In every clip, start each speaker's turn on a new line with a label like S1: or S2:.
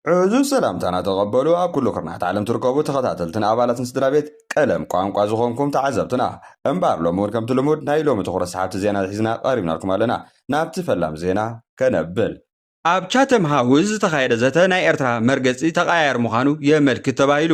S1: ዕዙዝ ሰላምታና ተቐበሉ ኣብ ኩሉ ኩርናዓት ዓለም ትርከቡ ተኸታተልትን ኣባላትን ስድራቤት ቀለም ቋንቋ ዝኾንኩም ተዓዘብትና። እምበኣር ሎሚ ውን ከምቲ ልሙድ ናይ ሎሚ ትኹረት ሰሓብቲ ዜናታት ሒዝና ቀሪብናልኩም ኣለና። ናብቲ ፈላም ዜና ከነብል። ኣብ ቻተም ሃውዝ ዝተኻየደ ዘተ ናይ ኤርትራ መርገጺ ተቐያያሪ ምዃኑ የመልክት ተባሂሉ።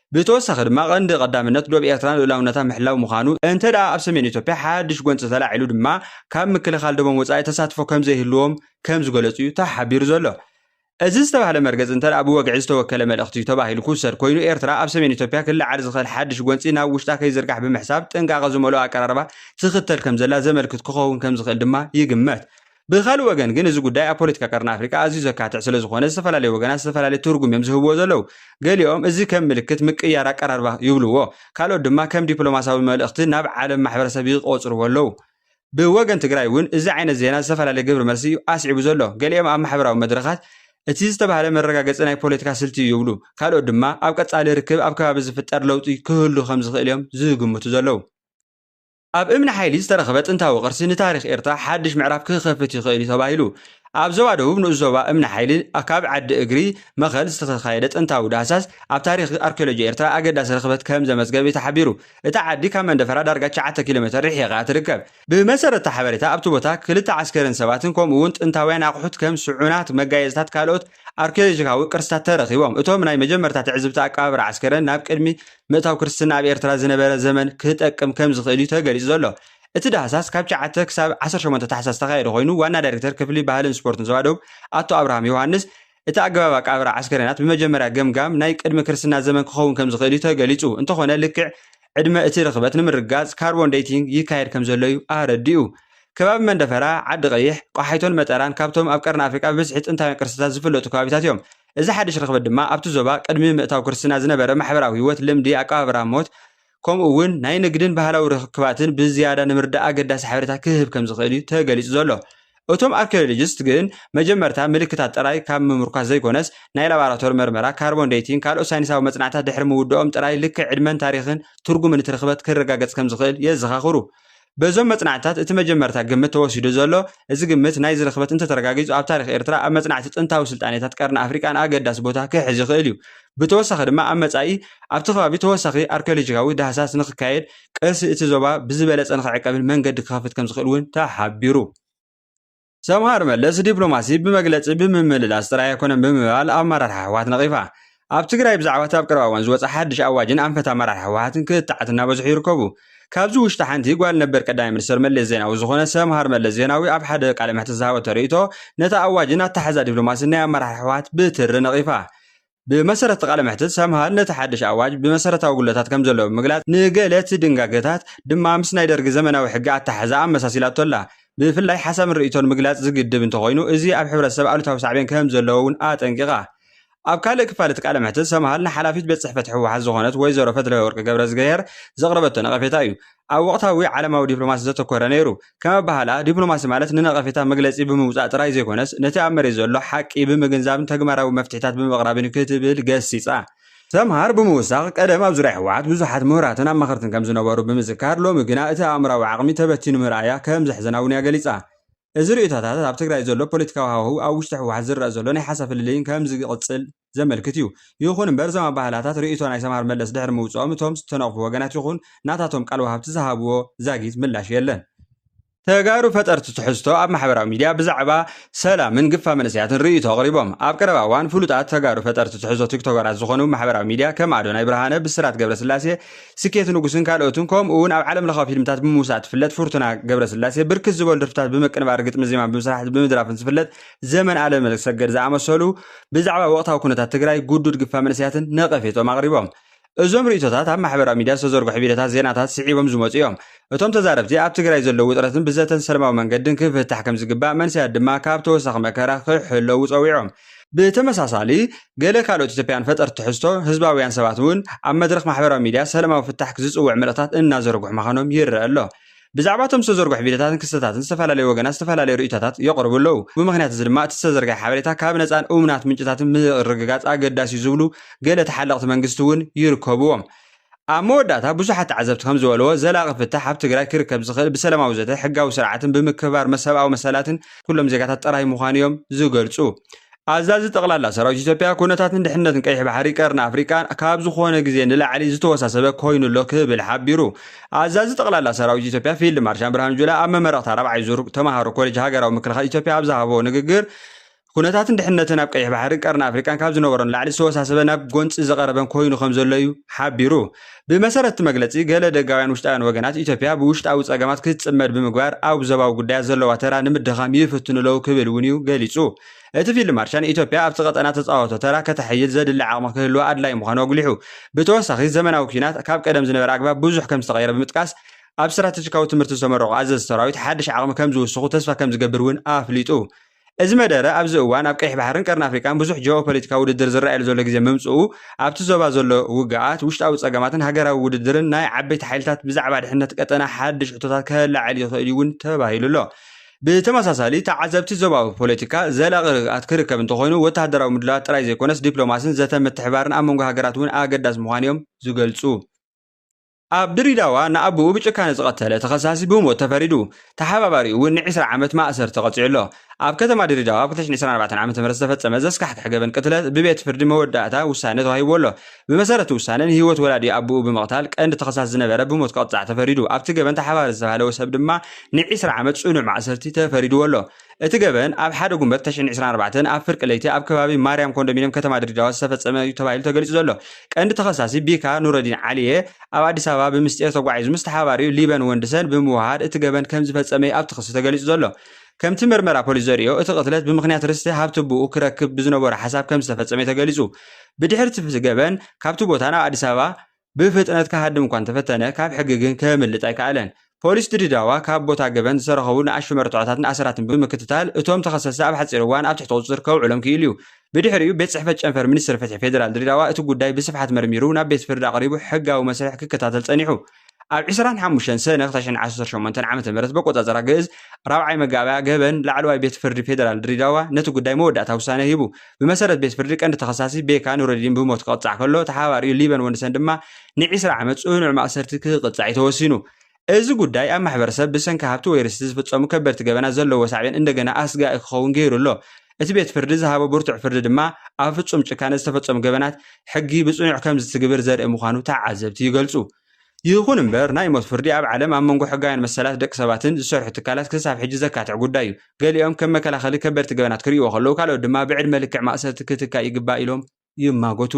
S1: ብተወሳኺ ድማ ቀንዲ ቀዳምነት ዶብ ኤርትራ ልኡላውነታ ምሕላው ምዃኑ፣ እንተድኣ ኣብ ሰሜን ኢትዮጵያ ሓድሽ ጎንጺ ተላዒሉ ድማ ካብ ምክልኻል ዶቦም ወጻኢ ተሳትፎ ከምዘይህልዎም ከምዝገለጹ'ዩ ተሓቢሩ ዘሎ። እዚ ዝተባህለ መርገጺ እንተድኣ ብወግዒ ዝተወከለ መልእኽቲ'ዩ ተባሂሉ ክውሰድ ኮይኑ፣ ኤርትራ ኣብ ሰሜን ኢትዮጵያ ክለዓል ዝኽእል ሓድሽ ጎንጺ ናብ ውሽጣ ከይዝርጋሕ ብምሕሳብ ጥንቃቐ ዝመልኦ ኣቀራርባ ትኽተል ከምዘላ ዘመልክት ክኸውን ከምዝኽእል ድማ ይግመት። ብኻልእ ወገን ግን እዚ ጉዳይ ኣብ ፖለቲካ ቀርኒ ኣፍሪቃ ኣዝዩ ዘካትዕ ስለ ዝኾነ ዝተፈላለዩ ወገናት ዝተፈላለየ ትርጉም እዮም ዝህብዎ ዘለዉ። ገሊኦም እዚ ከም ምልክት ምቅይያር ኣቀራርባ ይብልዎ፣ ካልኦት ድማ ከም ዲፕሎማስያዊ መልእኽቲ ናብ ዓለም ማሕበረሰብ ይቖጽርዎ ኣለዉ። ብወገን ትግራይ እውን እዚ ዓይነት ዜና ዝተፈላለየ ግብሪ መልሲ እዩ ኣስዒቡ ዘሎ። ገሊኦም ኣብ ማሕበራዊ መድረኻት እቲ ዝተባህለ መረጋገጺ ናይ ፖለቲካ ስልቲ እዩ ይብሉ፣ ካልኦት ድማ ኣብ ቀጻሊ ርክብ ኣብ ከባቢ ዝፍጠር ለውጢ ክህሉ ከም ዝኽእል እዮም ዝግምቱ ዘለዉ። ኣብ እምኒ ሓይሊ ዝተረኽበ ጥንታዊ ቅርሲ ንታሪኽ ኤርትራ ሓድሽ ምዕራፍ ክኸፍት ይኽእል'ዩ ተባሂሉ። ኣብ ዞባ ደቡብ ንኡስ ዞባ እምኒ ሓይሊ ኣብ ከባቢ ዓዲ እግሪ መኸል ዝተተኻየደ ጥንታዊ ዳህሳስ ኣብ ታሪኽ ኣርኪዮሎጂ ኤርትራ ኣገዳሲ ርኽበት ከምዘመዝገበ'ዩ ተሓቢሩ። እታ ዓዲ ካብ መንደፈራ ዳርጋ ትሽዓተ ኪሎሜተር ርሒቓ'ያ ትርከብ። ብመሰረት'ቲ ሓበሬታ ኣብቲ ቦታ ክልተ ዓስከርን ሰባትን ከምኡ'ውን ጥንታውያን ኣቑሑት ከም ስዑናት፣ መጋየጽታት ካልኦት ኣርኪዮሎጂካዊ ቅርስታት ተረኺቦም። እቶም ናይ መጀመርታ ትዕዝብቲ ኣቀባብራ ዓስከረን ናብ ቅድሚ ምእታው ክርስትና ኣብ ኤርትራ ዝነበረ ዘመን ክጠቅም ከም ዝኽእል እዩ ተገሊጹ ዘሎ። እቲ ዳህሳስ ካብ ትሽዓተ ክሳብ ዓሰርተ ሸሞንተ ታሕሳስ ዝተኻየደ ኮይኑ ዋና ዳይሬክተር ክፍሊ ባህልን ስፖርትን ዞባ ደቡብ ኣቶ ኣብርሃም ዮውሃንስ እቲ ኣገባብ ኣቀባብራ ዓስከሬናት ብመጀመርያ ገምጋም ናይ ቅድሚ ክርስትና ዘመን ክኸውን ከም ዝኽእል እዩ ተገሊጹ። እንተኾነ ልክዕ ዕድመ እቲ ርኽበት ንምርግጋፅ ካርቦን ዴይቲንግ ይካየድ ከምዘሎ ዩ ኣረዲኡ። ከባቢ መንደፈራ፣ ዓዲ ቐይሕ፣ ቆሓይቶን መጠራን ካብቶም ኣብ ቀርኒ ኣፍሪቃ ብብዝሒ ጥንታውያን ቅርስታት ዝፍለጡ ከባቢታት ዮም። እዚ ሓድሽ ርኽበት ድማ ኣብቲ ዞባ ቅድሚ ምእታው ክርስትና ዝነበረ ማሕበራዊ ህይወት፣ ልምዲ፣ ኣቀባብራ ሞት፣ ከምኡ ውን ናይ ንግድን ባህላዊ ርኽክባትን ብዝያዳ ንምርዳእ ኣገዳሲ ሓበሬታ ክህብ ከምዝኽእል ዩ ተገሊፁ ዘሎ። እቶም ኣርኪዮሎጂስት ግን መጀመርታ ምልክታት ጥራይ ካብ ምምርኳስ ዘይኮነስ ናይ ላባራቶሪ መርመራ ካርቦን ደይቲንግ ካልኦት ሳይንሳዊ መጽናዕታት ድሕሪ ምውድኦም ጥራይ ልክዕ ዕድመን ታሪኽን ትርጉምን እቲ ርኽበት ክረጋገጽ ከም ዝኽእል የዘኻኽሩ። በዞም መጽናዕትታት እቲ መጀመርታ ግምት ተወሲዱ ዘሎ እዚ ግምት ናይዚ ርኽበት እንተተረጋጊጹ ኣብ ታሪኽ ኤርትራ ኣብ መጽናዕቲ ጥንታዊ ስልጣኔታት ቀርኒ ኣፍሪቃን ኣገዳሲ ቦታ ክሕዝ ይኽእል እዩ ብተወሳኺ ድማ ኣብ መጻኢ ኣብቲ ከባቢ ተወሳኺ ኣርኪዮሎጂካዊ ዳህሳስ ንኽካየድ ቀርሲ እቲ ዞባ ብዝበለፀ ንክዕቀብን መንገዲ ክኸፍት ከምዝኽእል እውን ተሓቢሩ። ሰምሃር መለስ ዲፕሎማሲ ብመግለፂ ብምምልላስ ጥራይ ኣይኮነን ብምባል ኣመራርሓ ህወሓት ነቒፋ። ኣብ ትግራይ ብዛዕባ እቲ ኣብ ቀረባ እዋን ዝወፀ ሓድሽ ኣዋጅን ኣንፈት ኣመራርሓ ህወሓትን ክትዓት እናበዝሑ ይርከቡ። ካብዚ ውሽጢ ሓንቲ ጓል ነበር ቀዳማይ ሚኒስተር መለስ ዜናዊ ዝኾነ ሰምሃር መለስ ዜናዊ ኣብ ሓደ ቃለ መሕትት ዝሃበቶ ርእይቶ ነቲ ኣዋጅን ኣተሓሕዛ ዲፕሎማሲን ናይ ኣመራርሓ ህወሓት ብትሪ ነቒፋ። ብመሰረት እቲ ቃለ መሕትት፣ ሰምሃል ነቲ ሓድሽ ኣዋጅ ብመሰረታዊ ጉድለታት ከም ዘለዎ ብምግላጽ፣ ንገለ እቲ ድንጋገታት ድማ ምስ ናይ ደርጊ ዘመናዊ ሕጊ ኣተሓሕዛ ኣመሳሲላቶ ኣላ። ብፍላይ ሓሳብን ርእይቶን ምግላጽ ዝግድብ እንተኾይኑ፣ እዚ ኣብ ሕብረተሰብ ኣሉታዊ ሳዕቤን ከም ዘለዎ እውን ኣጠንቂቓ። ኣብ ካልእ ክፋል እቲ ቃለ መሕትት፣ ሰምሃል ንሓላፊት ቤት ጽሕፈት ህወሓት ዝኾነት ወይዘሮ ፈትለወርቅ ገብረዝግሄር ዘቕረበቶ ነቐፌታ እዩ። ኣብ ወቕታዊ ዓለማዊ ዲፕሎማሲ ዘተኮረ ነይሩ። ከም ኣበሃህላ፣ ዲፕሎማሲ ማለት ንነቐፌታ መግለጺ ብምውጻእ ጥራይ ዘይኮነስ፣ ነቲ ኣብ መሬት ዘሎ ሓቂ ብምግንዛብን ተግባራዊ መፍትሒታት ብምቕራብን'ዩ ክትብል ገሲጻ። ሰምሃር ብምውሳኽ፣ ቀደም ኣብ ዙርያ ህወሓት ብዙሓት ምሁራትን ኣማኸርትን ከም ዝነበሩ ብምዝካር፣ ሎሚ ግና እቲ ኣእምሮኣዊ ዓቕሚ ተበቲኑ ምርኣያ ከም ዘሕዝና'ውን'ያ ገሊጻ። እዚ ርእይቶታት ኣብ ትግራይ ዘሎ ፖለቲካዊ ሃዋህው ኣብ ውሽጢ ህወሓት ዝረኣ ዘሎ ናይ ሓሳብ ፍልልይን ከም ዝቕፅል ዘመልክት እዩ። ይኹን እምበር እዞም ኣበሃህላታት ርእይቶ ናይ ሰምሃር መለስ ድሕሪ ምውፅኦም እቶም ዝተነቕፉ ወገናት ይኹን ናታቶም ቃል ወሃብቲ ዝሃብዎ ዛጊት ምላሽ የለን። ተጋሩ ፈጠርቲ ትሕዝቶ ኣብ ማሕበራዊ ሚድያ ብዛዕባ ሰላምን ግፋ መንእሰያትን ርእይቶ ኣቕሪቦም። ኣብ ቀረባ እዋን ፍሉጣት ተጋሩ ፈጠርቲ ትሕዝቶ ቲክቶከራት ዝኾኑ ማሕበራዊ ሚድያ ከም ኣዶናይ ብርሃነ፣ ብስራት ገብረስላሴ፣ ስኬት ንጉስን ካልኦትን ከምኡ ውን ኣብ ዓለም ለኻዊ ፊልምታት ብምውሳእ ትፍለጥ ፍርቱና ገብረስላሴ ብርክት ዝበሉ ደርፍታት ብምቅንባር ግጥሚ ዜማ ብምስራሕ ብምድራፍን ዝፍለጥ ዘመን ኣለምሰገድ ዝኣመሰሉ ብዛዕባ ወቕታዊ ኩነታት ትግራይ ጉዱድ ግፋ መንእሰያትን ነቐፌትኦም ኣቕሪቦም። እዞም ርእይቶታት ኣብ ማሕበራዊ ሚድያ ዝተዘርግሑ ቪድዮታት ዜናታት ስዒቦም ዝመፁ እዮም። እቶም ተዛረብቲ ኣብ ትግራይ ዘሎ ውጥረትን ብዘተን ሰለማዊ መንገድን ክፍታሕ ከምዝግባእ መንሰያት ድማ ካብ ተወሳኺ መከራ ክሕለዉ ፀዊዖም። ብተመሳሳሊ፣ ገለ ካልኦት ኢትዮጵያውያን ፈጠርቲ ትሕዝቶ፣ ህዝባውያን ሰባት እውን ኣብ መድረኽ ማሕበራዊ ሚድያ ሰለማዊ ፍታሕ ዝጽውዕ መልእኽታት እናዘርግሑ ምዃኖም ይረኣ ኣሎ።
S2: ብዛዕባ እቶም ዝተዘርግሑ ቪድዮታትን ክስተታትን ዝተፈላለዩ ወገናት ዝተፈላለዩ ርእይቶታት የቕርቡ ኣለዉ። ብምኽንያት እዚ ድማ እቲ ዝተዘርግሐ ሓበሬታ ካብ ነጻን እሙናት ምንጭታትን ምርግጋጽ ኣገዳሲ'ዩ ዝብሉ ገለ ተሓለቕቲ መንግስቲ እውን ይርከቡዎም። ኣብ መወዳእታ ብዙሓት ተዓዘብቲ ከምዝበልዎ ዘላቒ ፍታሕ ኣብ ትግራይ ክርከብ ዝኽእል ብሰላማዊ ዘተ፣ ሕጋዊ ስርዓትን ብምክብባር መሰብኣዊ መሰላትን ኩሎም ዜጋታት ጥራይ ምዃኑ እዮም ዝገልፁ። ኣዛዚ ጠቕላላ ሰራዊት ኢትዮጵያ ኩነታትን ድሕንነትን ቀይሕ ባሕሪ ቀርኒ ኣፍሪቃ ካብ ዝኾነ ግዜ ንላዕሊ ዝተወሳሰበ ኮይኑ'ሎ ክብል ሓቢሩ። ኣዛዚ ጠቕላላ ሰራዊት ኢትዮጵያ ፊልድ ማርሻን ብርሃኑ ጁላ ኣብ መመረቕታ ራብዓይ ዙር ተማሃሮ ኮሌጅ ሃገራዊ ምክልኻል ኢትዮጵያ ኣብ ዝሃቦ ንግግር ኵነታትን ድሕነትን ኣብ ቀይሕ ባሕርን ቀርኒ ኣፍሪቃን ካብ ዝነበሮ ንላዕሊ ዝተወሳሰበን ናብ ጎንጺ ዝቐረበን ኰይኑ ከም ዘሎ እዩ ሓቢሩ። ብመሰረት እቲ መግለጺ፣ ገለ ደጋውያን ውሽጣውያን ወገናት፣ ኢትዮጵያ ብውሽጣዊ ጸገማት ክትጽመድ ብምግባር ኣብ ዞባዊ ጉዳያት ዘለዋ ተራ ንምድኻም ይፍትኑ'ለዉ ክብል እውን እዩ ገሊጹ። እቲ ፊልድ ማርሻል፣ ኢትዮጵያ ኣብቲ ቀጠና እተጻወቶ ተራ ከተሐይል ዘድሊ ዓቕሚ ክህልዋ ኣድላዪ ምዃኑ ኣጕሊሑ። ብተወሳኺ፣ ዘመናዊ ኲናት ካብ ቀደም ዝነበረ ኣግባብ ብዙሕ ከም ዝተቐየረ ብምጥቃስ፣ ኣብ ስትራተጂካዊ ትምህርቲ ዝተመረቑ ኣዘዝቲ ሰራዊት ሓድሽ ዓቕሚ ከም ዝውስኹ ተስፋ ከም ዝገብር እውን ኣፍሊጡ። እዚ መደረ ኣብዚ እዋን ኣብ ቀይሕ ባሕርን ቀርኒ ኣፍሪቃን ብዙሕ ጂኦፖለቲካዊ ውድድር ዝረኣየሉ ዘሎ ግዜ ምምጽኡ፣ ኣብቲ ዞባ ዘሎ ውግኣት፣ ውሽጣዊ ጸገማትን ሃገራዊ ውድድርን ናይ ዓበይቲ ሓይልታት ብዛዕባ ድሕነት ቀጠና ሓድሽ ሕቶታት ከለዓዕል ይኽእል እዩ'ውን ተባሂሉ ኣሎ። ብተመሳሳሊ፣ ተዓዘብቲ ዞባዊ ፖለቲካ ዘላቒ ርግኣት ክርከብ እንተኾይኑ ወተሃደራዊ ምድላዋት ጥራይ ዘይኮነስ ዲፕሎማስን ዘተን ምትሕብባርን ኣብ መንጎ ሃገራት'ውን ኣገዳሲ ምዃኑ'ዮም ዝገልጹ። ኣብ ድሪዳዋ ንኣቡኡ ብጭካነ ዝቐተለ ተኸሳሲ ብሞት ተፈሪዱ፣ ተሓባባሪኡ እውን ንዒስራ ዓመት ማእሰርቲ ተቐጺዑ ኣሎ። ኣብ ከተማ ድሪዳዋ ኣብ ክልተ ሽሕን ዒስራን ኣርባዕተን ዓመተ ምህረት ዝተፈጸመ ዘስካሕክሕ ገበን ቅትለት ብቤት ፍርዲ መወዳእታ ውሳነ ተዋሂብዎ ኣሎ። ብመሰረት'ቲ ውሳነ፣ ንህይወት ወላዲ ኣቡኡ ብምቕታል ቀንዲ ተኸሳሲ ዝነበረ ብሞት ክቕጻዕ ተፈሪዱ፣ ኣብቲ ገበን ተሓባባሪ ዝተባህለ ሰብ ድማ ንዒስራ ዓመት ጽኑዕ ማእሰርቲ ተፈሪድዎ ኣሎ። እቲ ገበን ኣብ ሓደ ጉንበት ተሽሕን ዕስራን ኣርባዕተን ኣብ ፍርቂ ለይቲ ኣብ ከባቢ ማርያም ኮንዶሚንየም ከተማ ድሬዳዋ ዝተፈጸመ እዩ ተባሂሉ ተገሊጹ ዘሎ ቀንዲ ተኸሳሲ ቢካ ኑረዲን ዓሊየ ኣብ ኣዲስ ኣበባ ብምስጢር ተጓዒዙ ምስ ተሓባሪኡ ሊበን ወንድሰን ብምውህሃድ እቲ ገበን ከምዝፈጸመ እዩ ኣብቲ ክሲ ተገሊጹ ዘሎ። ከምቲ መርመራ ፖሊስ ዘርእዮ እቲ ቅትለት ብምኽንያት ርስቲ ሃብቲ ኣቡኡ ክረክብ ብዝነበሮ ሓሳብ ከምዝተፈጸመ እዩ ተገሊጹ። ብድሕሪ እቲ ገበን ካብቲ ቦታ ናብ ኣዲስ ኣበባ ብፍጥነት ክሃድም እኳ እንተፈተነ ካብ ሕጊ ግን ከምልጥ ኣይከኣለን። ፖሊስ ድሬዳዋ ካብ ቦታ ገበን ዝተረኸቡ ንኣሽቱ መረትዖታትን ኣሰራትን ብምክትታል እቶም ተኸሰስቲ ኣብ ሓፂር እዋን ኣብ ትሕቲ ቁፅፅር ከውዕሎም ክኢሉ እዩ። ብድሕሪኡ ቤት ፅሕፈት ጨንፈር ሚኒስትሪ ፍትሒ ፌዴራል ድሬዳዋ እቲ ጉዳይ ብስፍሓት መርሚሩ ናብ ቤት ፍርዲ ኣቕሪቡ ሕጋዊ መስርሕ ክከታተል ፀኒሑ። ኣብ ዕስራን ሓሙሽተን ሰነ ክተሽዐን ዓሰርተ ሸሞንተን ዓመተ ምህረት በቆፃፀራ ግእዝ ራብዓይ መጋባእያ ገበን ላዕለዋይ ቤት ፍርዲ ፌዴራል ድሬዳዋ ነቲ ጉዳይ መወዳእታ ውሳነ ሂቡ። ብመሰረት ቤት ፍርዲ ቀንዲ ተኸሳሲ ቤካ ኑረዲን ብሞት ክቕፃዕ ከሎ ተሓባሪኡ ሊበን ወንድሰን ድማ ንዒስራ ዓመት ፅኑዕ ማእሰርቲ ክቅፃዕ እዩ ተወሲኑ። እዚ ጉዳይ ኣብ ማሕበረሰብ ብሰንኪ ሃብቲ ወይ ርስቲ ዝፍፀሙ ከበድቲ ገበናት ዘለዎ ሳዕቤን እንደገና ኣስጋኢ ክኸውን ገይሩ ኣሎ። እቲ ቤት ፍርዲ ዝሃቦ ብርቱዕ ፍርዲ ድማ ኣብ ፍፁም ጭካነ ዝተፈፀሙ ገበናት ሕጊ ብፅኑዕ ከምዝትግብር ዘርኢ ምዃኑ ተዓዘብቲ ይገልፁ። ይኹን እምበር ናይ ሞት ፍርዲ ኣብ ዓለም ኣብ መንጎ ሕጋውያን መሰላት ደቂ ሰባትን ዝሰርሑ ትካላት ክሳብ ሕጂ ዘካትዕ ጉዳይ እዩ። ገሊኦም ከም መከላኸሊ ከበድቲ ገበናት ክርእይዎ ከለዉ ካልኦት ድማ ብዕድመ ልክዕ ማእሰርቲ ክትካእ ይግባእ ኢሎም ይማጎቱ።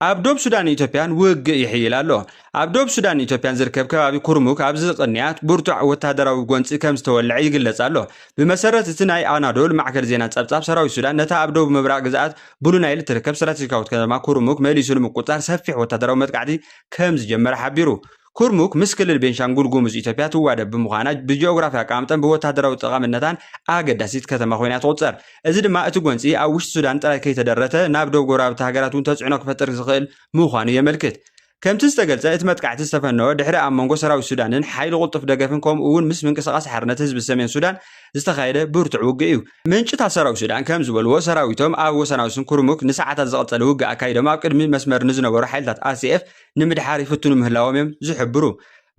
S2: ኣብ ዶብ ሱዳንን ኢትዮጵያን ውግእ ይሕይል ኣሎ። ኣብ ዶብ ሱዳንን ኢትዮጵያን ዝርከብ ከባቢ ኩርሙክ ኣብዚ ቅንያት ብርቱዕ ወተሃደራዊ ጎንጺ ከም ዝተወልዐ ይግለጽ ኣሎ። ብመሰረት እቲ ናይ ኣናዶል ማዕከን ዜና ጸብጻብ ሰራዊት ሱዳን ነታ ኣብ ደቡብ ምብራቕ ግዝኣት ብሉ ናይል እትርከብ ስትራቴጂካዊት ከተማ ኩርሙክ መሊሱ ንምቁፅፃር ሰፊሕ ወታደራዊ መጥቃዕቲ ከምዝጀመረ ሓቢሩ። ኩርሙክ ምስ ክልል ቤንሻንጉል ጉሙዝ ኢትዮጵያ ትዋደብ ብምዃና ብጂኦግራፊ ኣቀማምጠን ብወታደራዊ ጠቓምነታን ኣገዳሲት ከተማ ኮይና እያ ትቑፀር። እዚ ድማ እቲ ጎንፂ ኣብ ውሽጢ ሱዳን ጥራይ ከይተደረተ ናብ ዶብ ጎረባብቲ ሃገራት እውን ተፅዕኖ ክፈጥር ዝኽእል ምዃኑ የመልክት። ከምቲ ዝተገልጸ፣ እቲ መጥቃዕቲ ዝተፈነወ ድሕሪ ኣብ መንጎ ሰራዊት ሱዳንን ሓይሊ ቁልጡፍ ደገፍን ከምኡ እውን ምስ ምንቅስቓስ ሓርነት ህዝቢ ሰሜን ሱዳን ዝተኻየደ ብርቱዕ ውግእ እዩ። ምንጭታት ሰራዊት ሱዳን ከም ዝበልዎ፣ ሰራዊቶም ኣብ ወሰናውስን ኩርሙክ ንሰዓታት ዝቐጸለ ውግእ ኣካይዶም ኣብ ቅድሚ መስመር ንዝነበሩ ሓይልታት RCF ንምድሓር ይፍትኑ ምህላዎም እዮም ዝሕብሩ።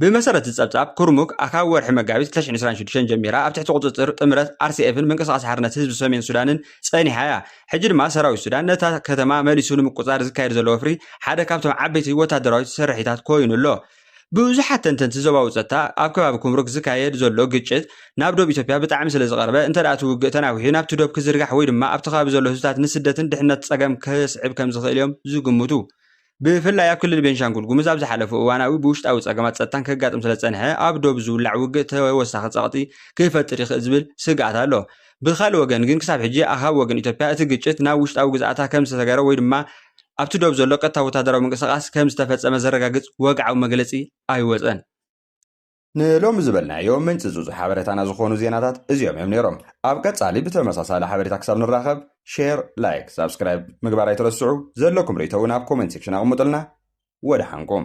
S2: ብመሰረት እዚ ጸብጻብ፣ ኩርሙክ ኣካብ ወርሒ መጋቢት ክልተ ሽሕን ዕስራን ሽዱሽተን ጀሚራ ኣብ ትሕቲ ቁጽጽር ጥምረት ኣርሲኤፍን ምንቅስቓስ ሓርነት ህዝቢ ሰሜን ሱዳንን ጸኒሓ እያ። ሕጂ ድማ ሰራዊት ሱዳን ነታ ከተማ መሊሱ ንምቁጽጻር ዝካየድ ዘሎ ወፍሪ ሓደ ካብቶም ዓበይቲ ወተሃደራዊት ስርሒታት ኮይኑ ኣሎ። ብዙሓት ተንተንቲ ዞባዊ ጸጥታ፣ ኣብ ከባቢ ኩምሩክ ዝካየድ ዘሎ ግጭት ናብ ዶብ ኢትዮጵያ ብጣዕሚ ስለዝቐረበ እንተድኣ እቲ ውግእ ተናዊሑ ናብቲ ዶብ ክዝርጋሕ ወይ ድማ ኣብቲ ከባቢ ዘሎ ህዝብታት ንስደትን ድሕነት ጸገም ከስዕብ ከምዝኽእል እዮም ዝግምቱ። ብፍላይ ኣብ ክልል ቤንሻንጉል ጉሙዝ ኣብ ዝሓለፉ እዋናዊ ብውሽጣዊ ፀገማት ፀጥታን ከጋጥም ስለዝፀንሐ ኣብ ዶብ ዝውላዕ ውግእ ተወሳኺ ፀቕጢ ክፈጥር ይኽእል ዝብል ስግኣት ኣሎ። ብኻልእ ወገን ግን ክሳብ ሕጂ ኣኻብ ወገን ኢትዮጵያ እቲ ግጭት ናብ ውሽጣዊ ግዝኣታ ከምዝተሰገረ ወይ ድማ ኣብቲ ዶብ ዘሎ ቀጥታዊ ወታደራዊ ምንቅስቓስ ከምዝተፈፀመ ዘረጋግፅ ወግዓዊ መግለፂ ኣይወፀን።
S1: ንሎሚ ዝበልናዮ ምንጽጹጽ ሓበረታና ዝኾኑ ዜናታት እዚኦም እዮም ነይሮም። ኣብ ቀጻሊ ብተመሳሳሊ ሓበሬታ ክሳብ ንራኸብ ሼር፣ ላይክ፣ ሳብስክራይብ ምግባር ኣይትረስዑ። ዘለኩም ርእይቶ እውን ኣብ ኮመንት ሴክሽን ኣቕምጡልና። ወደሓንኩም።